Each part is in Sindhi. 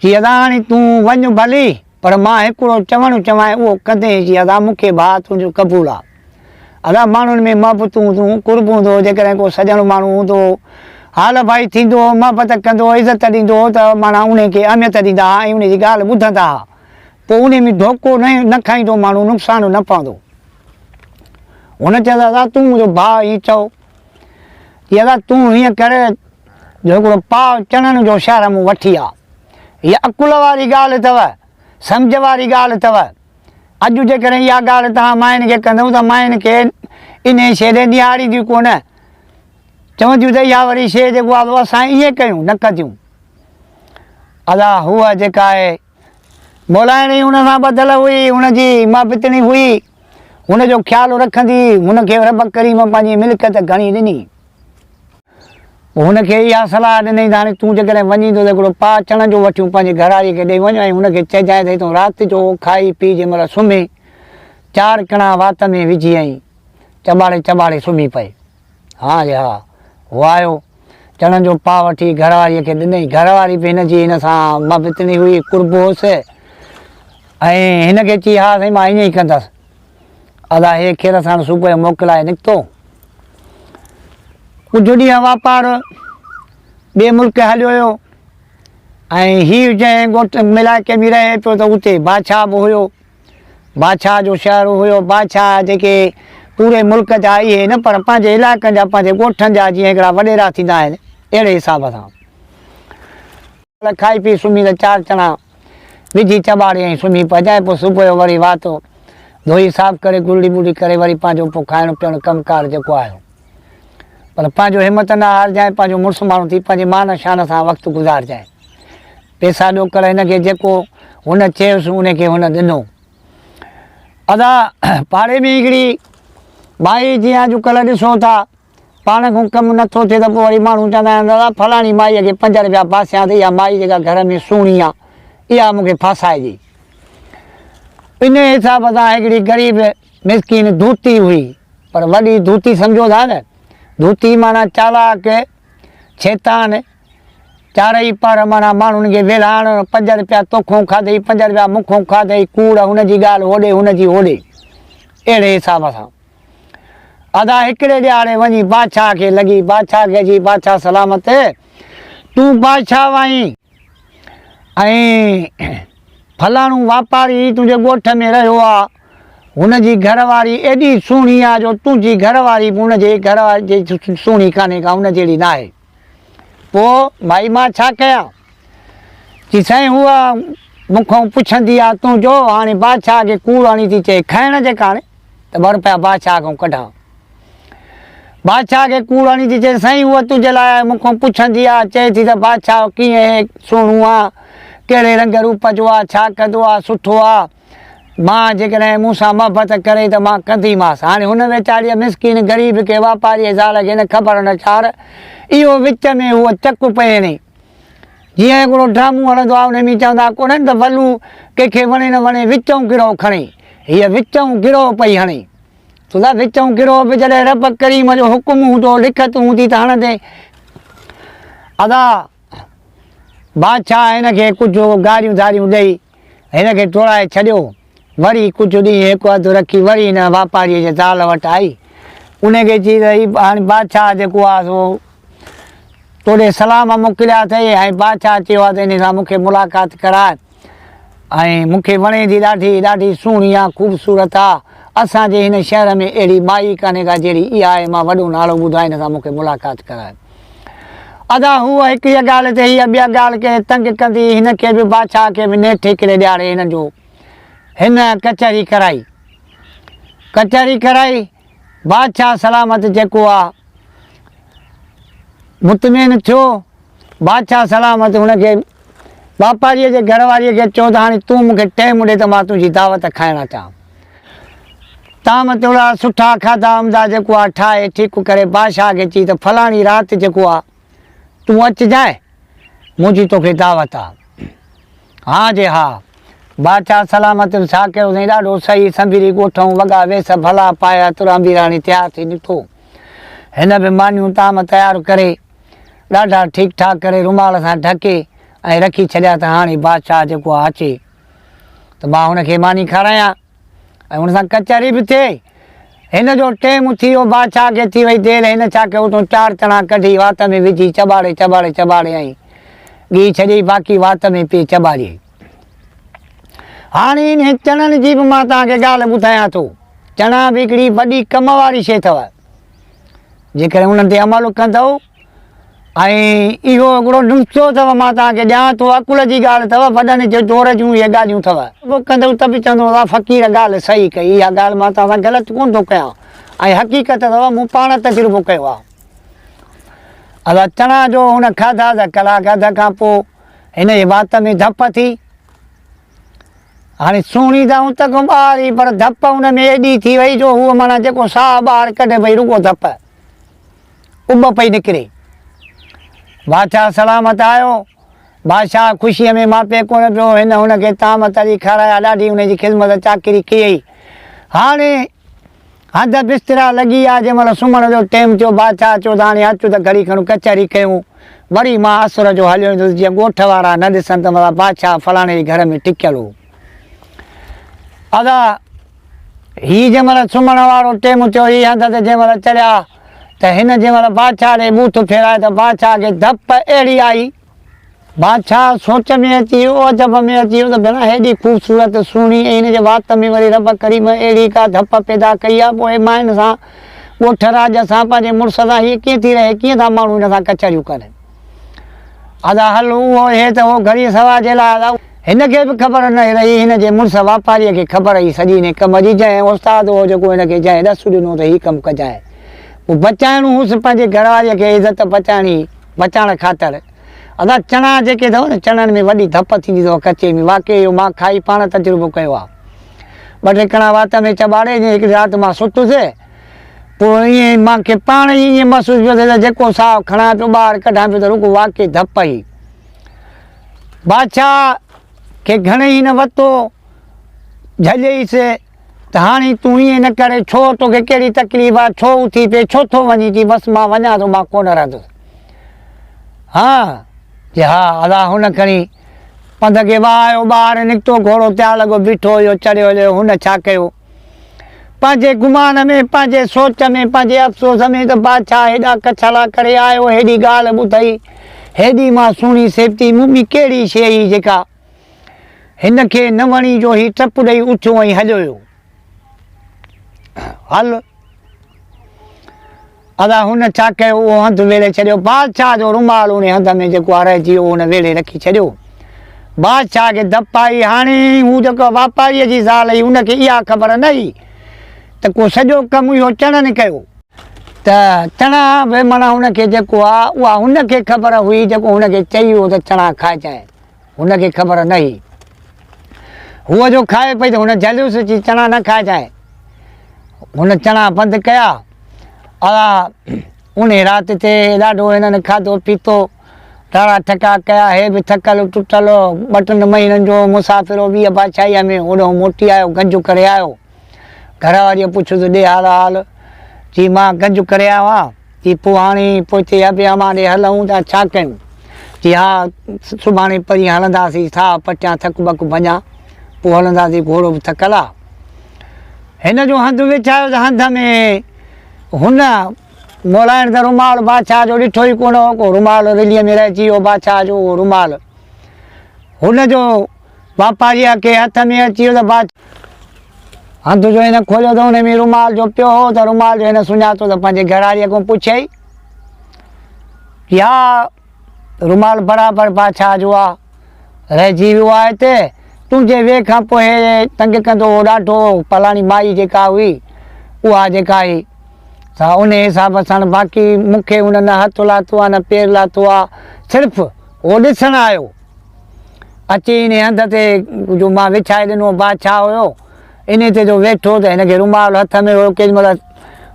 چي ادا هاڻي تون وڃ ڀلي، پر مان هڪڙو چوڻ چوانء اهو ڪندين، چي ادا مون کي ڀاء تنهنجو قبول آ. ادا ماڻهن ۾ محبت هوندو، قرب هوندو، جيڪڏهن ڪو سڄڻ ماڻهو هوندو، حال ڀائي ٿيندو، محبت ڪندو، عزت ڏيندو هو ته معنيٰ انهي کي اهميت ڏيندا ها ۽ انهي جي ڳالهه ٻڌندا ها. پوء انهي ۾ ڌوڪو نه کائيندو ماڻهو نقصان نه پوندو. هن چيس ادا تون منهنجو ڀاء ائين چئو ٿي ادا تون هيئن ڪر جو هڪڙو پاء چڻن جو شهر مون وٺي آ. هيء عقل واري ڳالهه اٿو سمجهه واري ڳالهه اٿو. اڄ جيڪڏهن اها ڳالهه توهان ماين کي ڪندئون ته ماين کي انهي شيء ڏي نهارينديون ڪونه چونديون ته اها وري شيء جيڪو آ سو اسان ائين ڪيون نه ڪنديون. ادا هوء جيڪا آهي مولائڻي هن سان ٻڌل هئي، هن جي مابتڻي هئي، هن جو خيال رکندي هن کي رب ڪريم پنهنجي ملڪيت گهڻي ڏني. پوء هن کي اها صلاح ڏنائين ته هاڻي تون جيڪڏهن وڃين ٿو ته هڪڙو پاء چڻن جو وٺيون پنهنجي گهراڙيء کي ڏئي وڃ ۽ هن کي چئجانء ته هي تون رات جو کائي پي جنهن مهل سمهين، چار ڪڻا وات ۾ وجهي ۽ چٻاڙي چٻاڙي سمهي پئي. ها جي ها. هو آيو. چڻن جو پاء وٺي گهر واريء کي ڏنئي. گهر واري به هن جي هن سان محبتڻي هئي، قرب هوس ۽ هن کي چي ها سائين مان ائين ئي ڪندس. ادا هي کير ساڻ صبح جو موڪل لاء نڪتو. ڪجهه ڏينهن واپار ٻئي ملڪ هليو ويو ۽ هي جنهن ڳوٺ ملائڪي ۾ رهي پيو ته اتي بادشاهه به هيو. بادشاهه جو شهر هيو، بادشاهه جيڪي پوري ملڪ جا اهي نه پر پنهنجي علائقن جا پنهنجي ڳوٺن جا جيئن هڪڙا وڏيرا ٿيندا آهن اهڙي حساب سان. کائي پي سمهي ته چار چڻا وجهي چٻاڙي ۽ سمهي پئجانء پوء صبح جو وري واتو ڌوئي صاف ڪري گرڙي ٻرڙي ڪري وري پنهنجو پوء کائڻ پيئڻ ڪم ڪار جيڪو آهيو پر پنهنجو همت نه هارجانء پنهنجو مڙس ماڻهو ٿي پنهنجي مان شان سان وقت گذارجانء. پيسا ڏوڪڙ هن کي جيڪو هن چيس ان کي هن ڏنو. ادا پاڙي ۾ هڪڙي مائي جيئن اڄ ڪلهه ڏسو ٿا پاڻ کان ڪم نه ٿو ٿئي ته پوء وري ماڻهو چوندا آهن دادا فلاڻي مائي کي پنج رپيا ڦاسيان ته اها مائي جيڪا گهر ۾ سهڻي آهي اها مون کي ڦاسائجي. ان حساب سان هڪڙي غريب مسڪين ڌوتي هئي پر وڏي ڌوتي سمجهو ٿا نه ڌوتي معنيٰ چالاڪ، شيطان، چارئي پهر معنيٰ ماڻهن جي ويلهاڻ، پنج رپيا توکون کاڌئي، پنج رپيا مون کون کاڌئي، ڪوڙ، هن جي ڳالهه هوڏي، هن جي هوڏي. اهڙي حساب سان ادا هڪڙي ڏيهاڙي وڃي بادشاهه کي لڳي، بادشاهه کي جي بادشاهه سلامت، تون بادشاهه آهين ۽ فلاڻو واپاري تنهنجي ڳوٺ ۾ رهيو آ، هن جي گهر واري ايڏي سهڻي آ جو تنهنجي گهر واري به هن جي گهر واري جي سهڻي ڪانهي ڪا، هن جهڙي ناهي. پوء ڀائي مان ڇا ڪيان؟ چي سائين هوء مون کان پڇندي آ تون جو هاڻي بادشاهه کي ڪوڙ هڻي ٿي چئي کائڻ جي ڪاڻي ته ٻه رپيا بادشاهه کان ڪڍاء. بادشاهه کي ڪوڙ هڻي ٿي چئي سائين هوء تنهنجي لاء مون کان پڇندي آ چئي ٿي ته بادشاهه ڪيئن هي سهڻو آ ڪهڙي رنگ روپ جو آ ڇا ڪندو آ سٺو آ. مان جيڪڏهن مون سان محبت ڪري ته مان ڪنديمانس. هاڻي هن ويچاريء مسڪين غريب کي واپاريء زال کي نه خبر نه چار اهو وچ ۾ هوء چڪ پئي هڻي. جيئن هڪڙو ڊرامو هلندو آهي انهي ۾ چوندا ڪونهن ته ولو ڪنهن کي وڻي نه وڻي وچئون گروهه کڻي هيء وچئون گروهه پئي هڻي. سودا وچئون گروهه به جڏهن رب ڪريم جو حڪم هوندو لکت هوندي ته هڻندي. ادا بادشاهه هن کي ڪجهه گاريون ڌاريون ڏئي هن کي ٽوڙائي ڇڏيو. وري ڪجهه ڏينهن هڪ هنڌ رکي وري هن واپاريء جي زال وٽ آئي. ان کي چي ته هي هاڻي بادشاهه جيڪو آ سو توڏي سلام موڪليا اٿئي ۽ بادشاهه چيو آ ته ان سان مون کي ملاقات ڪراء ۽ مون کي وڻي ٿي ڏاڍي، ڏاڍي سهڻي آ، خوبصورت آ. اسان جي هن شهر ۾ اهڙي مائي ڪانهي ڪا جهڙي اها آهي، مان وڏو نالو ٻڌان ان سان مون کي ملاقات ڪراء. ادا هوء هڪ هيء ڳالهه تي هيء ٻيا ڳالهه ڪري تنگ ڪندي هن کي به بادشاهه کي به نيٺ هڪڙي ڏهاڙي هن جو هن ڪچهري ڪرائي ڪچهري ڪرائي بادشاهه سلامت جيڪو آ مطمئن ٿيو بادشاهه سلامت هن کي واپاريء جي گهر واريء کي چيو ته هاڻي تون مون کي ٽيم ڏي ته مان تنهنجي دعوت کائڻ اچان طعام توڙا سٺا کاڌا عمدا جيڪو آ ٺاهي ٺيڪ ڪري بادشاهه کي چي ته فلاڻي رات جيڪو آ تون اچجانء منهنجي توکي دعوت آ. ها جي ها. بادشاهه سلامت ۽ شاڪر حسين ڏاڍو صحيح سنڀيري ڳوٺئون وڳا ويس ڀلا پائي عطر عميراڻي تيار ٿي نڪتو. هن به مانيون طعام تيار ڪري ڏاڍا ٺيڪ ٺاڪ ڪري رومال سان ڍڪي ۽ رکي ڇڏيا ته هاڻي بادشاهه جيڪو آ اچي. ته مان هن کي ماني کارايان ۽ هن سان ڪچهري به ٿئي. هن جو ٽيم ٿي ويو، بادشاهه کي ٿي وئي دير، هن ڇا ڪيو اتون چار چڻا ڪڍي وات ۾ وجهي چٻاڙي چٻاڙي چٻاڙيائين. ڳهي ڇڏيائين باقي وات ۾ پئي چٻاڙيائين. هاڻي انهن چڻن جي به مان توهان کي ڳالهه ٻڌايان ٿو. چڻا به هڪڙي وڏي ڪم واري شيء اٿو. جيڪڏهن انهن تي عمل ڪندؤ ۽ اهو هڪڙو نسخو اٿو مان توهان کي ڏيان ٿو عقل جي ڳالهه اٿو وڏن جي دور جون اهي ڳالهيون اٿو. اهو ڪندو ته به چوندو ته فقير ڳالهه صحيح ڪئي اها ڳالهه مان توهان سان غلط ڪونه ٿو ڪيان ۽ حقيقت اٿو مون پاڻ تجربو ڪيو آهي ادا چڻا جو هن کاڌا ته ڪلاڪ اڌ کان پوء هن جي وات ۾ ڌپ ٿي هاڻي سهڻي ته آئون تکون ٻاهر هئي پر ڌپ هن ۾ ايڏي ٿي وئي جو هو معنيٰ جيڪو ساهه ٻاهر ڪڍي پئي رڳو ڌپ اٻ پئي نڪري. باچا سلامت آيو. بادشاهه خوشيء ۾ ماپي ڪونه پيو. هن هن کي طعام تري کارايا. ڏاڍي هن جي خذمت چاڪري ڪيئي. هاڻي هنڌ بسترا لڳي آ. جنهن مهل سمهڻ جو ٽيم ٿيو. باچا چيو ته هاڻي اچ ته گهڙي کن ڪچهري ڪيون. وري مان عصر جو هليو ايندس جيئن ڳوٺ وارا نه ڏسن ته مطلب باچا فلاڻي جي گهر ۾ ٽڪيل هو. ادا! هي جنهن مهل سمهڻ وارو ٽيم ٿيو، هي هنڌ تي جنهن مهل چڙهيا ته هن جنهن مهل بادشاهه ڏي بوٿ ڦيرائي ته بادشاهه کي ڌپ اهڙي آئي، بادشاهه سوچ ۾ اچي ويو، عجب ۾ اچي ويو ته ڀيڻا هيڏي خوبصورت، سهڻي ۽ هن جي وات ۾ وري رب ڪريم اهڙي ڪا ڌپ پيدا ڪئي آ، پوء مائن سان، ڳوٺ راڄ سان، پنهنجي مڙس سان هيء ڪيئن ٿي رهي، ڪيئن ٿا ماڻهو هن سان ڪچهريون ڪن. ادا حل اهو اهي ته هو گهڙيء سوا جي لاء ادا. هن کي به خبر نه رهي هن جي مڙس واپاريء کي خبر هئي سڄي هن ڪم جي جنهن استاد هو جيڪو هن کي جنهن ڏس ڏنو ته هي ڪم ڪجانء پوء بچائڻو هوس پنهنجي گهرواريء کي عزت بچائڻي بچائڻ خاطر ادا چڻا جيڪي اٿئو نه چڻن ۾ وڏي ڌپ ٿيندي اٿئو ڪچي ۾ واقعي اهو مان کائي پاڻ تجربو ڪيو آهي ٻه ٽي ڪڻا وات ۾ چٻاڙي جي هڪڙي رات مان ستس پوء ائين مان کي پاڻ ئي ائين محسوس پيو ٿئي ته جيڪو ساهه کڻان پيو ٻاهر ڪڍان پيو ته رڳو واقعي ڌپ ئي. بادشاهه کي گهڻي ئي نه وتو جهڄئيس ته هاڻي تون ائين نه ڪر، ڇو تو کي ڪهڙي تڪليف آ، ڇو اٿي پئي، ڇو ٿو وڃين، چي بس مان وڃان ٿو مان ڪونه رهندس. ها چي ها ادا هن کڻي پنڌ کي وهايو ٻاهر نڪتو گهوڙو تيار لڳو بيٺو هيو چڙهيو هليو هن ڇا ڪيو. پنهنجي گمان ۾، پنهنجي سوچ ۾، پنهنجي افسوس ۾ ته بادشاهه هيڏا ڪڇلا ڪري آيو، هيڏي ڳالهه ٻڌئي، هيڏي مان سهڻي سيبتي مون ۾ ڪهڙي شيء هئي جيڪا هن کي نه وڻي جو هي ٽپ ڏئي اٿيو ۽ هليو ويو. هل! ادا هن ڇا ڪيو اهو هنڌ ويڙهي ڇڏيو بادشاهه جو رومال ان هنڌ ۾ جيڪو آ رهجي ويو هن ويڙهي رکي ڇڏيو بادشاهه کي ڌپ آئي هاڻي هو جيڪو واپاريء جي زال هئي ان کي اها خبر نه هئي ته ڪو سڄو ڪم اهو چڻن ڪيو ته چڻا به معنيٰ هن کي جيڪو آ اها هن کي خبر هئي جيڪو هن کي چئي ويو ته چڻا کائجانء. هن کي خبر نه هئي. هوء جو کائي پئي ته هن جليوس اچي چڻا نه کائجانء. هن چڻا بند ڪيا. اها اونهي رات تي ڏاڍو هنن کاڌو پيتو، ٽاڙا ٺڪا ڪيا. هي به ٿڪل ٽٽل، ٻه ٽن مهينن جو مسافر هو، ويهه بادشاهيء ۾ هوڏانهن موٽي آيو، گنج ڪري آيو. گهر واريء پڇيو ته ڏي هال هال. چي مان گنج ڪريان ها. چي پوء هاڻي پوئتي ابي امان ڏي هلون ته ڇا ڪيون؟ چي ها سڀاڻي پرينء هلنداسين ساهه پٽيان ٿڪ ٻڪ ڀڃان پوء هلنداسين گهوڙو به ٿڪل آ. هن جو هنڌ وڇايو ته هنڌ ۾ هن مولائڻ ته رومال بادشاهه جو ڏٺو ئي ڪونه هو ڪو رومال رليء ۾ رهجي ويو بادشاهه جو اهو رومال هن جو واپاريء کي هٿ ۾ اچي ويو ته باچا هنڌ جو هن کوليو ته ان ۾ رومال جو پيو هو ته رومال جو هن سڃاتو ته پنهنجي گهراڙيء کان پڇيائين ڪي اها رومال برابر باچا جو آ رهجي ويو آ هتي تنهنجي ويهه کان پوء تنگ ڪندو هو ڏاڍو پلاڻي مائي جيڪا هئي اها جيڪا هي سا ان حساب سان باقي مون کي هن نه هٿ لاتو آ نه پير لاتو آ صرف هو ڏسڻ آيو اچي انهيء هنڌ تي جو مان وڇائي ڏنو، بادشاهه هيو انهيء تي جو ويٺو ته هن کي رومال هٿ ۾ هيو، ڪيڏي مهل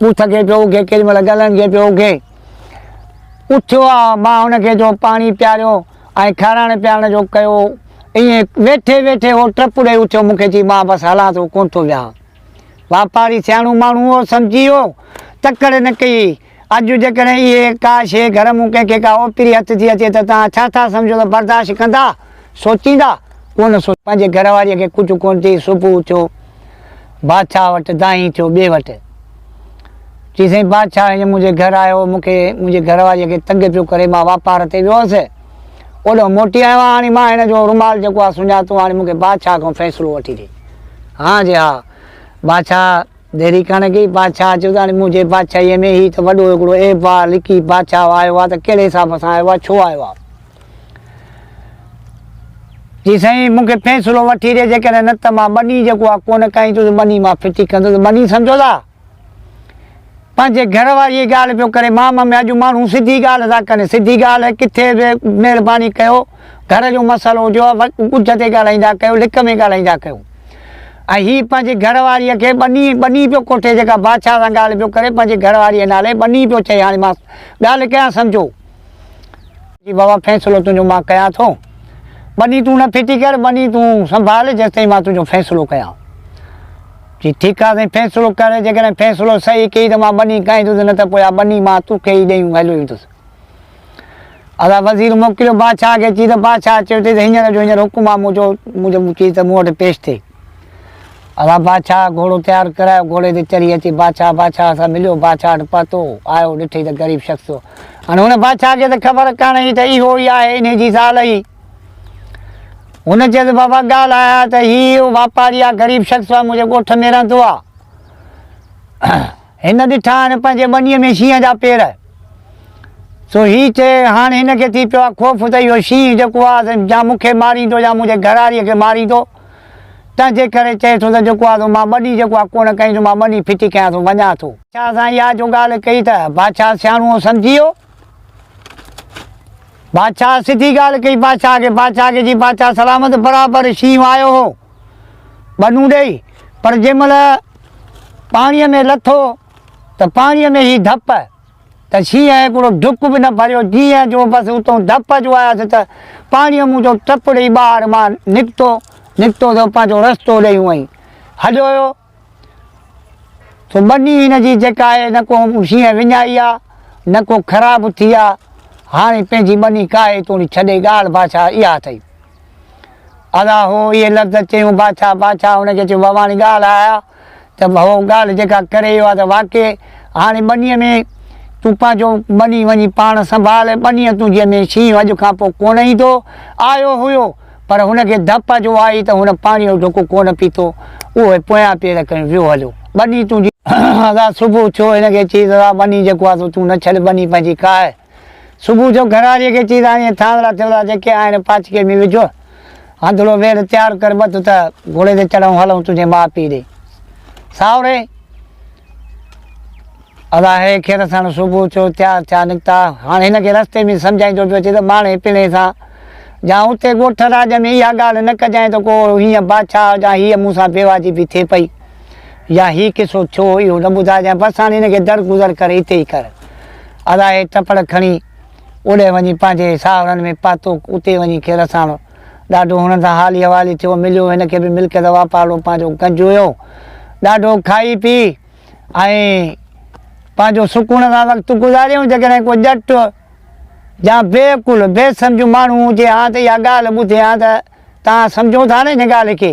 ٻوٿ کي پيو اگهي، ڪيڏي مهل ڳلن کي پيو اگهي. اٿيو آ، مان هن کي جو پاڻي پياريو ۽ کارائڻ پيارڻ جو ڪيو، ائين ويٺي ويٺي هو ٽپ ڏئي اٿيو، مون کي چي، مان بس هلان ٿو، ڪونه ٿو ويهان. واپاري سياڻو ماڻهو هو، سمجهي ويو، تڪڙ نه ڪئي، اڄ جيڪڏهن اهي ڪا شيء گهر مون ڪنهن کي ڪا اوپيري هٿ ٿي اچي ته توهان ڇا ٿا سمجهو ته برداشت ڪندا؟ سوچيندا؟ ڪو نه سوچيندا. پنهنجي گهر واريء کي ڪجهه ڪونه چئي صبح اٿيو بادشاهه وٽ دانهين ٿيو ٻئي وٽ. چي سائين بادشاهه هينئر منهنجي گهر آيو هو مون کي منهنجي گهر واريء کي تنگ پيو ڪري مان واپار تي ويو هوس اوڏهون موٽي آيو آهيان هاڻي مان هن جو رومال جيڪو آهي سڃاتو هاڻي مون کي بادشاهه کان فيصلو وٺي ڏي. هان جي ها بادشاهه. ديري ڪاڻي ڪئي، بادشاهه چيو ته هاڻي منهنجي بادشاهيء ۾ هي ته وڏو هڪڙو عيب آ، لڪي بادشاهه آيو آ ته ڪهڙي حساب سان آيو آ، ڇو آيو آ؟ چي سائين مون کي فيصلو وٺي ڏي، جيڪڏهن نه ته مان ٻني جيڪو آ ڪونه کائيندس، ٻني مان ڦٽي ڪندس، ٻني سمجهو ٿا پنهنجي گهر واريء جي ڳالهه پيو ڪري، مام ۾ اڄ ماڻهو سڌي ڳالهه ٿا ڪن، سڌي ڳالهه ڪٿي به مهرباني ڪيو. گهر جو مسئلو هجيو ها ڳجهه تي ڳالهائيندا ڪيو لڪ ۾ ڳالهائيندا ڪيو ۽ هي پنهنجي گهر واريء کي ٻني ٻني پيو ڪوٺي جيڪا بادشاهه سان ڳالهه پيو ڪري پنهنجي گهر واريء نالي ٻني پيو چئي هاڻي مان ڳالهه ڪيان سمجهو جي بابا فيصلو تنهنجو مان ڪيان ٿو ٻني تون نه ڦٽي ڪر ٻني تون سنڀال جيستائين مان تنهنجو فيصلو ڪيان جي ٺيڪ آ سائين فيصلو ڪر جيڪڏهن فيصلو صحيح ڪئي ته مان ٻني کائيندس نه ته پوء آ ٻني مان توکي ئي ڏيئون هليو ويندس ادا وزير موڪليو بادشاهه کي چي ته بادشاهه چيو اٿئي ته هينئر جو هينئر حڪم آ منهنجو منهنجو مون چي ته مون وٽ پيش ٿي. ادا بادشاهه گهوڙو تيار ڪرايو گهوڙي تي چڙهي اچي بادشاهه بادشاهه سان مليو بادشاهه وٽ پهتو آيو ڏٺئي ته غريب شخص ٿيو هاڻي هن بادشاهه کي ته خبر ڪانه هئي ته اهو ئي آهي انهي جي زال هئي هن چيس بابا ڳالهه آهي ته هي اهو واپاري آ غريب شخص آ منهنجي ڳوٺ ۾ رهندو آ هن ڏٺا آهن پنهنجي ٻنيء ۾ شينهن جا پير. سو هي چي، هاڻ هن کي ٿي پيو آهي خوف ته اهو شينهن جيڪو آهي سو يا مون کي ماريندو يا منهنجي گهراڙيء کي ماريندو. تنهن جي ڪري چئي ٿو ته جيڪو آهي سو مان ٻني جيڪو آهي ڪونه ڪئين ٿو، مان ٻني ڦٽي ڪيان ٿو، وڃان ٿو. بادشاهه سان اها جو ڳالهه ڪئي ته بادشاهه سياڻوء سمجهي ويو. بادشاهه سڌي ڳالهه ڪئي بادشاهه کي. بادشاهه کي چي، بادشاهه سلامت برابر شينهن آيو هو. ٻنون ڏئي پر جنهن مهل پاڻيء ۾ لٿو ته پاڻيء ۾ هي ڌپ ته شينهن هڪڙو ڊڪ به نه ڀريو جيئن جو بس اتون ڌپ جو آيس ته پاڻيء مون جو ٽپ ڏئي ٻاهر مان نڪتو نڪتو ته پنهنجو رستو ڏئي هونئن هليو ويو. سو ٻني هن جي جيڪا آهي نه ڪو شينهن وڃائي آ نه ڪو خراب ٿي آ. هاڻي پنهنجي ٻني ڪاهي توڻي ڇڏي ڳالهه بادشاهه اها اٿئي. ادا هو اهي لفظ چيون بادشاهه بادشاهه هن کي چيو ڀواني ڳالهه آ آ ته هو ڳالهه جيڪا ڪري اهو آ ته واقعي هاڻي ٻني ۾ تون پنهنجو ٻني وڃي پاڻ سنڀال ٻني تنهنجي ۾ شينهن اڄ کان پوء ڪونه ايندو. آيو هيو. پر هن کي ڌپ جو آئي ته هن پاڻيء جو ڍڪ ڪونه پيتو، اهو ئي پويان پير کڻي ويو هليو. ٻني تون جي. ادا صبح ٿيو هن کي چيس ادا ٻني جيڪو آهي سو تون نه ڇڏ ٻني پنهنجي ڪا آهي. صبح ٿيو گهراڙيء کي چيس هاڻي اهي ٿانولا ٿيولا جيڪي آهن پاڇڪي ۾ وجهه هنڌڙو ويڙهه تيار ڪر ٻڌ ته گهوڙي تي چڙهون هلون تنهنجي ماء پيء ڏي. ساهوري! الاهي کير ساڻ صبح جو تيار ٿيا نڪتا. هاڻ هن کي رستي ۾ سمجهائيندو پيو اچي ته ماڻهي پڻهي سان جا اتي ڳوٺ راڄ ۾ اها ڳالهه نه ڪجانء ته ڪو هينئن بادشاهه جا هيء مون سان بيواجبي ٿئي پئي يا هي قصو ٿيو اهو نه ٻڌائجانء بس هاڻ هن کي درگذر ڪري اتي ئي ڪر. الاهي ٽپڙ کڻي اوڏي وڃي پنهنجي ساهرن ۾ پهتو. اتي وڃي کير ساڻ ڏاڍو هنن سان حالي احوالي ٿيو. مليو. هن کي به ملڪيت واپار ڏو پنهنجو گنج هيو. ڏاڍو کائي پي. ۽ پنهنجو سڪون سان وقت گذاريون، جيڪڏهن ڪو ڄٽ يا بي عقل، بي سمجهه ماڻهو هجي ها ته اها ڳالهه ٻڌي ها ته توهان سمجهو ٿا نه ان ڳالهه کي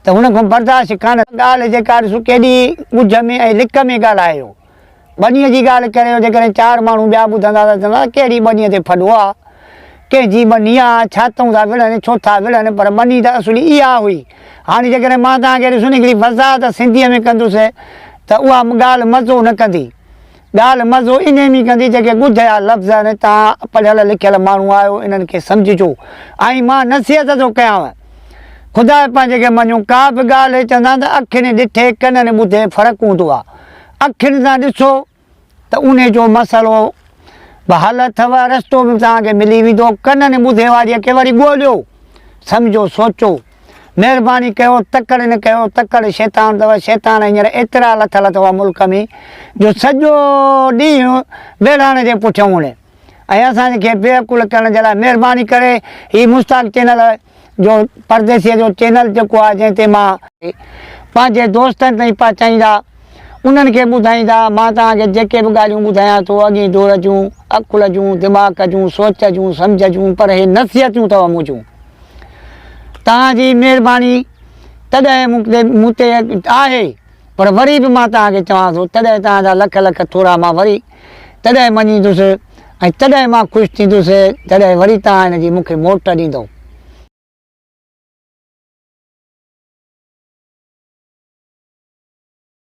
ته هن کان برداشت ڪانه ڳالهه جيڪا ڏسو ڪيڏي ڳجهه ۾ ۽ لڪ ۾ ڳالهايو ٻنيء جي ڳالهه ڪريو جيڪڏهن چار ماڻهو ٻيا ٻڌندا ته چوندا ڪهڙي ٻنيء تي ڦڏو آ. ڪنهن جي ٻني آ، ڇا تون ٿا وڙهن، ڇو ٿا وڙهن، پر ٻني ته اصلي اها هئي. هاڻي جيڪڏهن مان توهان کي ڏسون هڪڙي وضاحت سنڌيء ۾ ڪندس ته اها ڳالهه مزو نه ڪندي. ڳالهه مزو انهي ۾ ڪندي جيڪي ڳجهيا لفظ آهن، توهان پڙهيل لکيل ماڻهو آهيو، انهن کي سمجهجو ۽ مان نصيحت ٿو ڪيانء. خداء پنهنجي کي مڃو، ڪا به ڳالهه چوندا آهن ته اکين ڏٺي، ڪنن ٻڌي فرق هوندو آ. اکين سان ڏسو ته انهي جو مسئلو به حل اٿو، رستو به توهان کي ملي ويندو، ڪنن ٻڌي واريء کي وري ڳوليو، سمجهو، سوچو، مهرباني ڪيو، تڪڙ نه ڪيو، تڪڙ شيطان اٿو، شيطان هينئر ايترا لٿل اٿو ملڪ ۾ جو سڄو ڏينهن ويڙهاڻ جي پٺيان اڙي. ۽ اسان کي بي عقل ڪرڻ جي لاء مهرباني ڪري هي مشتاق چينل جو پرديسيء جو چينل جيڪو آهي جنهن تي مان پنهنجي دوستن تائين پهچائيندا انهن کي ٻڌائيندا مان توهان کي جيڪي به ڳالهيون ٻڌايان ٿو اڳين دور جون عقل جون دماغ جون سوچ جون سمجهه جون پر هي نصيحتون اٿو منهنجون توهان جي مهرباني تڏهن مون تي مون تي آهي پر وري به مان توهان کي چوان ٿو تڏهن توهان جا لک لک ٿورا مان وري تڏهن مڃيندس، ۽ تڏهن مان خوش ٿيندس، جڏهن وري توهان هن جي مون کي موٽ ڏيندؤ.